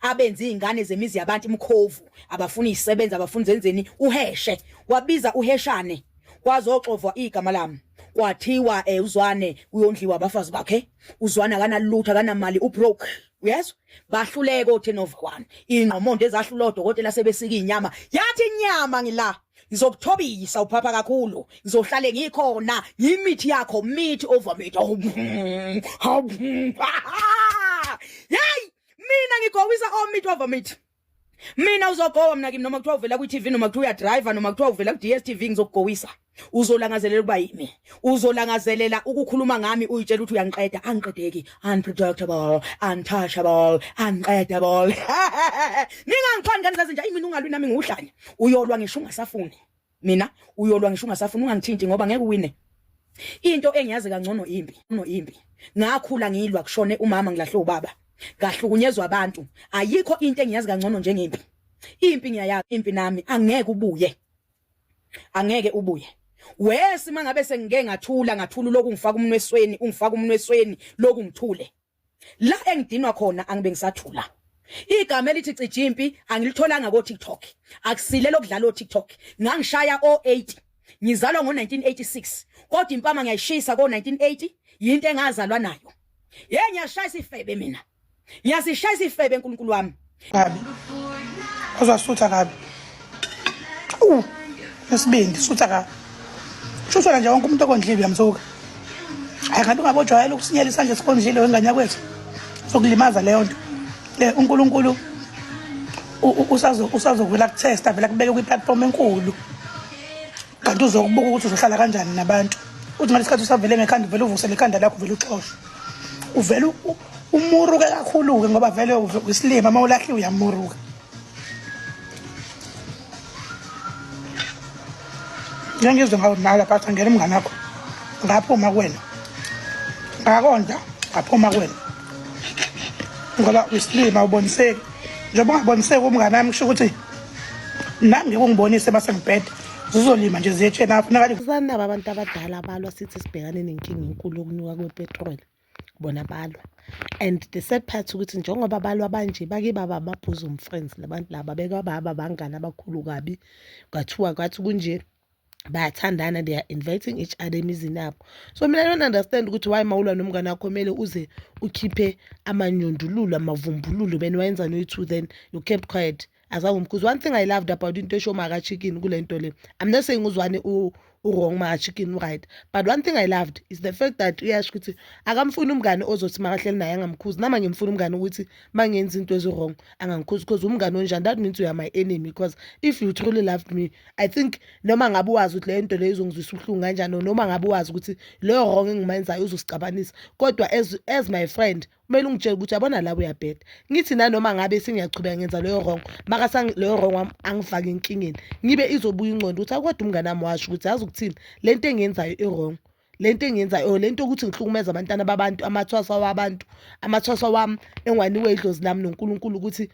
abenza izingane zemizi yabantu umkhovu abafuni isebenza abafuni zenzeni uheshe wabiza uheshane kwazoxovwa igama lami kwathiwa eh uzwane uyondliwa abafazi bakhe uzwana kanalutha kanamali ubroke uyezwa bahluleke othenova kwani ingqomondo ezahlula odokotela sebesika inyama yathi inyama ngila ngizokuthobisa uphapha kakhulu ngizohlale ngikhona yimithi yakho mithi over mithi hawu hawu hayi mina ngigowisa omit oh, wavomit mina uzogowa mna kimi noma kuthiwa uvela kwi-tv noma kuthiwa uyadriver noma kuthiwa uvela ku-dstv ngizokugowisa uzolangazelela ukuba yimi uzolangazelela ukukhuluma ngami uyitshela ukuthi uyangiqeda angiqedeki unpredictable untouchable unqedable ningangixhwani ngani zazinja imina ungalwi nami ngiwuhlanya uyolwa ngisho ungasafuni mina uyolwa ngisho ungasafuni ungangithinti ngoba ngeke uwine into engiyazi kangcono impi no impi ngakhula ngilwa kushone umama ngilahle ubaba ngahlukunyezwa abantu ayikho into engiyazi kangcono njengempi impi ngiyayazi impi nami angeke ubuye angeke ubuye wesi mangabe sengike ngathula ngathula lokhu ngifaka umnwesweni ungifaka umnwesweni lokhu ngithule la engidinwa khona angibe ngisathula igama elithi cijimpi angilitholanga ko TikTok akusile lokudlala o TikTok ngangishaya o 8 ngizalwa ngo 1986 kodwa impama ngiyayishisa ko 1980 yinto engazalwa nayo hey ngiyashaya isifebe mina ngiyasishaya isifebe uNkulunkulu wami kabi ozwa sutha kabi u nesibindi sutha kabi shusela nje wonke umuntu okondlile uyamsuka hayi kanti ungabojwayela ukusinyela isandla esikondlile wengane yakwethu sokulimaza leyo nto eh, unkulunkulu usazovela kuthesta avela kubeke kwi-platform enkulu kanti uzokubuka ukuthi uzohlala kanjani nabantu uthi ngalesi khathi usavele ngekhanda uvele uvuse lekhanda lakho uvele uxoshwe uvele umuruke kakhulu-ke ngoba vele isilima uma ulahliwe uyamuruka ngengizwe ngawudlala phatha ngena umngane wakho ngaphuma kuwena ngakonda ngaphuma kuwena ngoba isilima uboniseki njengoba ungaboniseki umngane wami kusho ukuthi nami ngikungibonise uma sengibhede zizolima nje ziyetsheni apho nakali abantu abadala balwa sithi sibhekane nenkinga enkulu yokunyuka kwepetroli bona balwa and the sad part ukuthi njengoba balwa banje bake baba ama-bosom friends labantu laba bekwababa abangani abakhulu kabi kwathiwa kwathi kunje bayathandana they are inviting each other emizini yabo so mina don't understand ukuthi why mawulwa nomngane wakho kumele uze ukhiphe amanyundululo amavumbululo bena wayenzani oyi-two then you kept quiet azange because one thing i loved about into esho maka chicken kule nto le i'm not saying uzwane u-wrong maka chicken u-right but one thing i loved is the fact that uyasho ukuthi akamfuni umngane ozothi makahleli naye angamkhuzi nama ngimfuna umngane ukuthi ma ngenza into ezi-wrong angangikhuzi because umngane onjani that means uya my enemy because if you truly loved me i think noma ngabe wazi ukuthi leyo nto leyo izongizwisa ubuhlungu kanjani noma ngabe wazi ukuthi leyo wrong engimayenzayo uzosixabanisa kodwa as, as my friend kumele ungitshele ukuthi yabona la uyabheda ngithi nanoma ngabe sengiyachubeka ngenza leyo wrong makasa leyo wrong wami angifake enkingeni ngibe izobuya ingqondo ukuthi akodwa umngane wami washo ukuthi yazi ukuthini le nto engiyenzayo i-wrong le nto engiyenzayo or le nto yokuthi ngihlukumeza abantwana babantu amathwasa wabantu amathwasa wami engiwaniwe idlozi lami nonkulunkulu ukuthi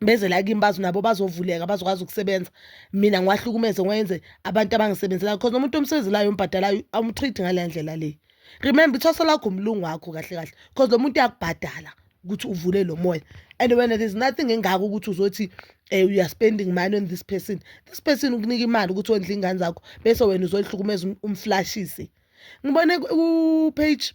beze la kimi bazo nabo bazovuleka bazokwazi ukusebenza mina ngiwahlukumeze ngiwenze abantu abangisebenzelayo because nomuntu omsebenzelayo ombhadalayo awumtreat ngaleya ndlela le remember ithwasa lakho umlungu wakho kahle kahle because lo muntu uyakubhadala ukuthi uvule lo moya and when there is nothing engako ukuthi uzothi um eh, youare spending money on this person this person ukunika imali ukuthi wondla iy'ngane zakho bese wena uzoyihlukumeza um, umflashise ngibone upage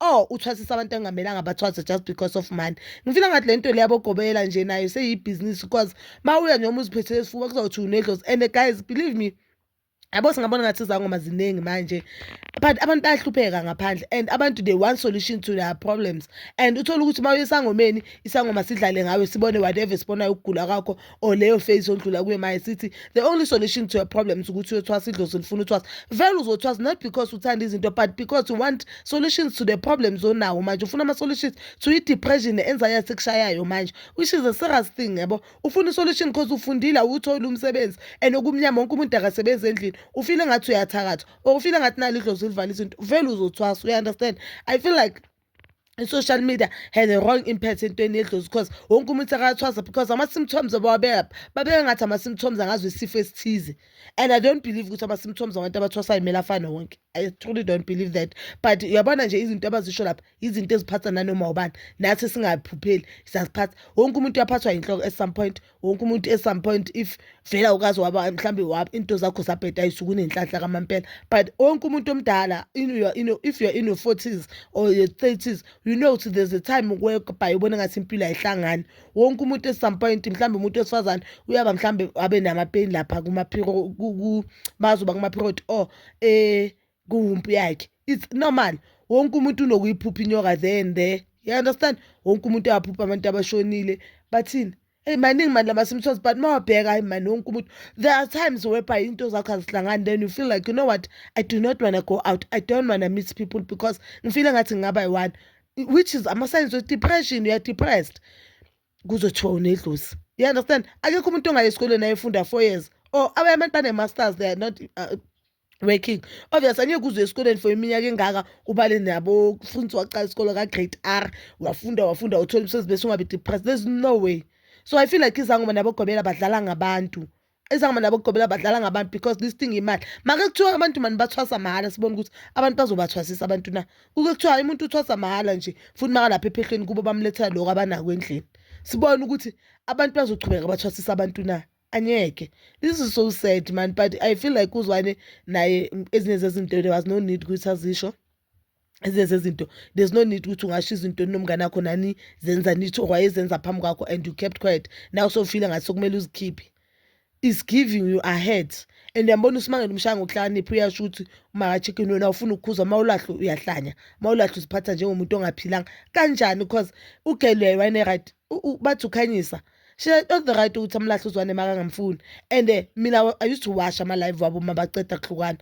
or uthwasisa abantu engamelanga bathwase just because of money ngifila ngathi le nto le yabogobela nje nayo seyibhizinisi because ma uya noma uziphethele esifuba kuzawuthi unedlozi and guys believe me yabo singabona ngathi izangoma ziningi manje but abantu bayahlupheka ngaphandle and abantu they want solution to their problems and uthole ukuthi uma uyesangomeni isangoma sidlale ngawe sibone whatever sibonayo ukugula kwakho or leyo phase ondlula kuyo maye sithi the only solution to your problems ukuthi uyothwasa idlozi lifuna uthwasa vele uzothwasa not because uthanda izinto but because you want solutions to the problems onawo manje ufuna ama-solutions to i-depression ne-anxiety ekushayayo manje which is a serious thing yabo ufuna i-solution because ufundile awuwutholi umsebenzi and okumnyama wonke umuntu akasebenzi endlini ufile ngathi uyathakatha or ufile ngathi nalo idlozi livala izinto vele uzothwasa uya-understand i feel like i-social media had a wrong impact entweni yedlozi because wonke umuntu akathwasa because ama-symptoms abawabeka babeka ngathi ama-symptoms angazo isifo esithize and i don't believe ukuthi ama-symptoms abantu abathwasayo kumele afane wonke i truly don't believe that but uyabona nje izinto abazisho lapha izinto eziphatha nanoma ubani nathi singaphupheli siyaziphatha wonke umuntu uyaphathwa yinhloko at some point wonke umuntu at some point if vele awukazi waba mhlawumbe waba into zakho zabheda ayisuke unenhlanhla kamampela but wonke umuntu omdala if you're in your forties or your thirties you know ukuthi there's a time whereby ubona ngathi impilo ayihlangani wonke umuntu at some point mhlawumbe umuntu wesifazane uyaba mhlawumbe abe namapeni lapha kumaphiro bazoba kumaphiroti or um kuwumpu yakhe it's normal wonke umuntu unokuyiphupha inyoka there and there you understand wonke umuntu uyaphupha abantu abashonile bathini eyi maningi mani lamasimthos but uma wabheka hayi mani wonke umuntu there are times whereby into zakho azihlangani then you feel like you know what i do not wanna go out i don't wanna meet people because ngifile ngathi ngingaba yi-one which is ama-signs of depression you are depressed kuzothiwa unedlozi you understand akekho umuntu ongaye esikolweni ayefunda four years or abanye abantu bane-masters they are not uh, working obvious angeke uze esikoleni for iminyaka engaka ubale nabo futhi waqala isikolo ka-grade r wafunda wafunda uthola umsebenzi bese ungabe depressed there's no way so i feel like izangoma nabogobela badlala ngabantu izangoma nabogobela badlala ngabantu because this thing imali make kuthiwa abantu mani bathwasa mahhala sibone ukuthi abantu bazobathwasisa abantu na kuke kuthiwa umuntu uthwasa mahhala nje futhi makalapha ephehlweni kubo bamlethela lokho abanako endlini sibone ukuthi abantu bazochubeka bathwasisa abantu na angeke this is so sad man but i feel like uzwane naye ezinye zezinto there was no need ukuthi azisho ezinye zezinto there's no need ukuthi ungasho izinto nomngane akho nani zenza nithi wayezenza phambi kwakho and you kept quiet now sofile ngathi sokumele uzikhiphe is giving you ahead and yambona usimangele umshaya ngokuhlakanipha uyasho ukuthi umakachicken wena ufuna ukukhuza uma ulahle uyahlanya uma ulahle uziphatha njengomuntu ongaphilanga kanjani because ugelweyo wayene-right bathi ukhanyisa she said not the right ukuthi amlahle uzwane makangamfuni and eh, mina i used to wash ama-live wabo uma baceda kuhlukana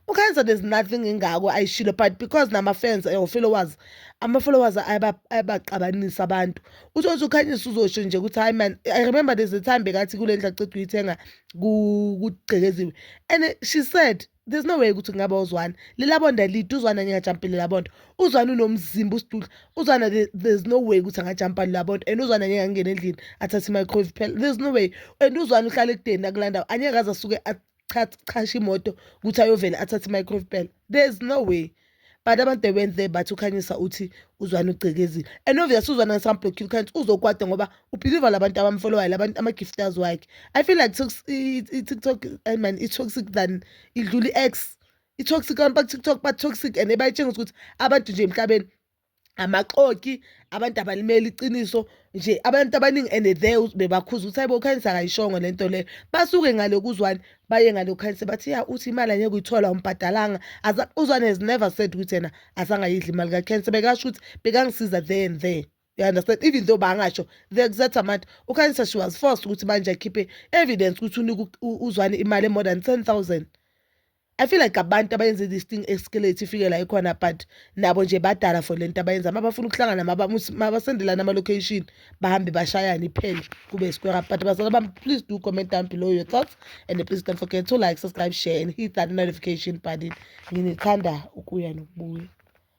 ukhenza there's nothing engako ayishilo but because nama-fans or followers ama-followers ayabaqabanisa abantu uthi othi ukhanyisa uzosho nje ukuthi hayi man i remember there's a time bekathi kule ndlu aceda uyithenga kugcekeziwe and eh, she said there's no way ukuthi kungaba uzwana lelabonda lide uzwana ngingajampile labonda uzwana unomzimba usidudla uzwana there's no way ukuthi angajampa labonda and uzwana ngeke angene endlini athathe i-microwave phela there's no way and uzwana uhlala ekudeni nakulandawo angeke aze asuke achashe imoto ukuthi ayovele athathe i-microwave phela there's no way but abantu they went there bathi ukhanyisa uthi uzwane ugcekezi and obvious uzwane ngisamblokile ukhanyisa uzokwada ngoba ubhiliva labantu abamfolowayo labantu ama-gifters wakhe i feel like i-tiktok eh, man i-toxic than idlula i-x i-toxic abantu baku-tiktok ba-toxic and ebayitshengisa ukuthi abantu nje emhlabeni amaxoki abantu abalimeli iqiniso nje abantu abaningi and the bebakhuza ukuthi hayibo ukhanyisa akayishongo le nto leyo basuke ngale kuzwani baye ngale ukhanyisa bathi ya uthi imali angeke uyithola umbhadalanga uzwane has never said ukuthi yena asangayidli imali kakhensa bekasho ukuthi bekangisiza there and there you understand even though bangasho the exact amount ukhanyisa she was forced ukuthi manje akhiphe evidence ukuthi unika uzwane imali e-more than ten thousand I feel like abantu abayenze this thing eskeleti ifike la ikhona but nabo nje badala for lento abayenza uma bafuna ukuhlangana mabasendelana ama-location bahambe bashayane iphele kube square up but bazala bami please do comment down below your thoughts and please don't forget to like subscribe share and hit that notification button nginithanda ukuya nokubuya